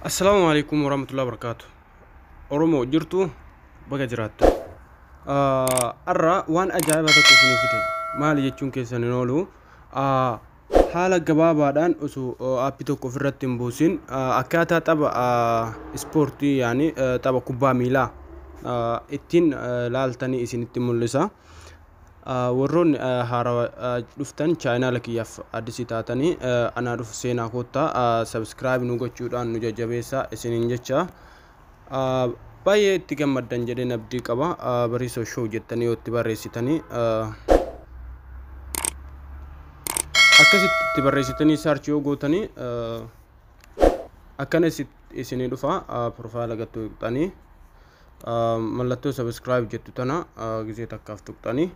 Assalaamu alaikum warahmatullahi wabarakatuh. Oromoo jirtu baga jiraattu. Har'a waan ajaa'ibaa tokko isinii fide. Maali jechuun keessan hin oolu. Haala gabaabaadhaan osoo app tokko ofirratti hin buusin akkaataa tapha ispoortii yaani tapha kubbaa miilaa ittiin laaltanii isinitti mul'isa. Warroonni haarawa dhuftan chaayinaala kiyyaaf addisii taatanii anaa dhufu seenaa koottaa sabskiraayib nu gochuudhaan nu jajjabeessaa isiniin jecha Ah, Baay'ee itti gammaddan jedheen abdii qaba. Ah, Bariisoo show jettanii yoo itti barreessitanii ah, akkasitti itti barreessitanii search yoo gootanii ah, akkana isi- isinii dhufa ah, profaayila gad tuqxanii ah, mallattoo subscribe jettu tana ah, gizee takkaaf tuqxanii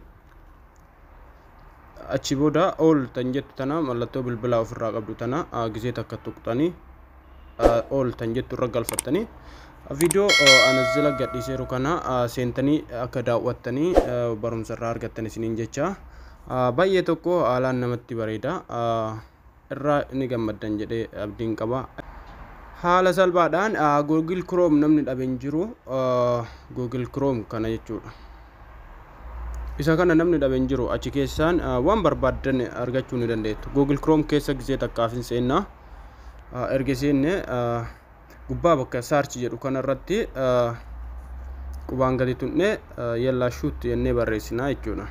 achi booda all tan jettu tana mallattoo bilbilaa ofirraa qabdu tana gizee takka tuqxanii all tan jettu irra galfattanii viidiyoo anazila gadhiiseeru kana seentanii akka daawwattanii barumsa irraa argattan isiniin jecha baay'ee tokko haalaan namatti bareeda. irraa ni gammaddan jedhee abdiin qaba. Haala salphaadhaan Google Chrome namni dhabe hin jiru. Google Chrome kana jechuudha. Isa kana namni dhabe hin jiru. Achi keessaan waan barbaaddan argachuu ni dandeettu. Google Chrome keessa gisee takkaaf hin seenna. Erga seenne gubbaa bakka search jedhu kana irratti qubaan gadi tunnee yellaa shoot jennee barreessinaa jechuudha.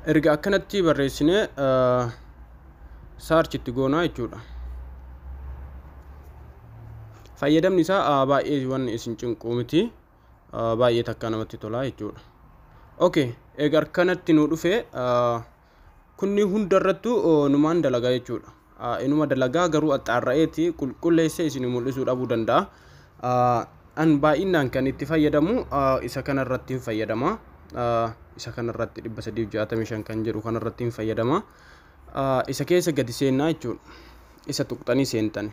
erga akkanatti barreessine saarchi itti goonaa jechuudha. Fayyadamni isaa baay'ee waan isin cinquu miti. baay'ee takkaa namatti tolaa jechuudha. Okay, egaa akkanatti nu dhufee kunni hunda irrattu numaan dalagaa jechuudha. Inuma dalagaa garuu axxaarra'eeti qulqulleessee isin mul'isuu dhabuu danda'a. An baay'inaan kan itti fayyadamu isa kana irratti hin fayyadama. Isa kana irratti 365 kan jedhu kana irratti hin fayyadama. Isa keessa gadi seennaa jechuudha. Isa tuqxanii seentani.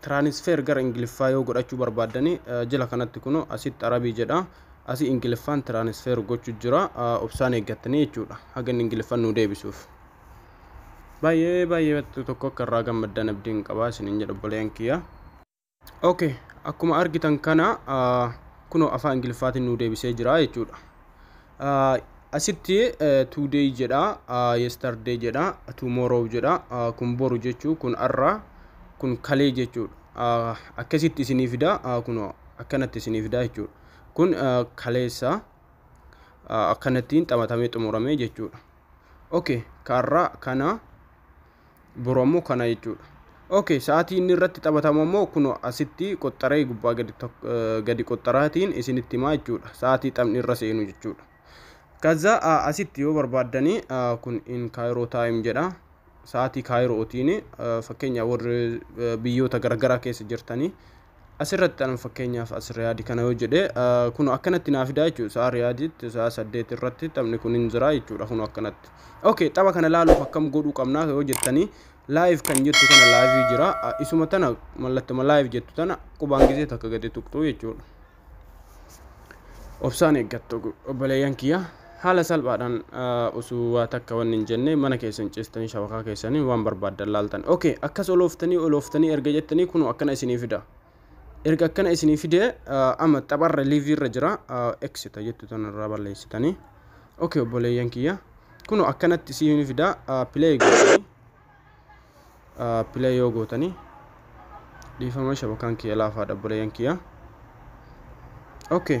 Transfer gara Ingiliffaa yoo godhachuu barbaaddani jila kanatti kuno asitti Arabii jedha. Asi Ingiliffaan transfer gochu jira. Obsaan eeggattanii jechuudha. Haga inni Ingiliffaan nuu deebisuuf. Baay'ee baay'ee tokko akka irraa gammaddan abdiin qabaa isinin jedha obboleeyyan kiyya. Okay, akkuma argitan kana kunoo afaan Ingiliffaatiin nuu deebisee jira jechuudha. Asitti today jedha, yesterday jedha, tomorrow jedha, kun boru jechuu, kun arra, kun kalee jechuudha. Akkasitti isinii fida, kun akkanatti isinii fida jechuudha. Kun kaleessa akkanattiin xamatamee xumurame jechuudha. Okay, kaarraa kana boru ammoo kana jechuudha okay sa'aatii inni irratti taphatamu ammoo kun asitti qoxxaree gubbaa gadi tok- eh, gadi qoxxaraatiin isinitti himaa jechuudha sa'aatii taphni irra seenu jechuudha kaza ah, asitti yoo barbaaddanii ah, kun in kaayiroo taayim jedha sa'aatii kaayirootiin ah, fakkeenyaaf warri eh, biyyoota garagaraa keessa jirtanii Asirratti anuma fakkeenyaaf as Riyaadi kana yoo jedhe kunu akkanatti naa fidaa jechuudha sa'a Riyaaditti sa'a saddeet irratti taphni kun hin jira jechuudha kunu akkanatti. Okay tapha kana laaluuf akkam godhuu qabnaa yoo jettanii live kan jettu kana live jira isuma tana mallattuma live jettu tana qubaan gisee takka gadi tuqxuu jechuudha. Obsaan eeggattu obboleeyyan kiyya. Haala salphaadhaan utuu waa takka wanni hin jenne mana keessan ciistanii shabakaa keessaniin waan barbaaddan laaltan. Ok akkas olooftanii olooftanii erga jettanii kunoo akkana isinii fida. Erga akkana isinii fidee amma tapharra liivii irra jira eksita jettu tanarraa balleessitanii. Ok obboleeyyan kiyya kunoo akkanatti isinii fida pilee gootanii pilee yoo gootanii dhiifama shabakaan kiyya laafaadha obboleeyyan kiyya. Ok.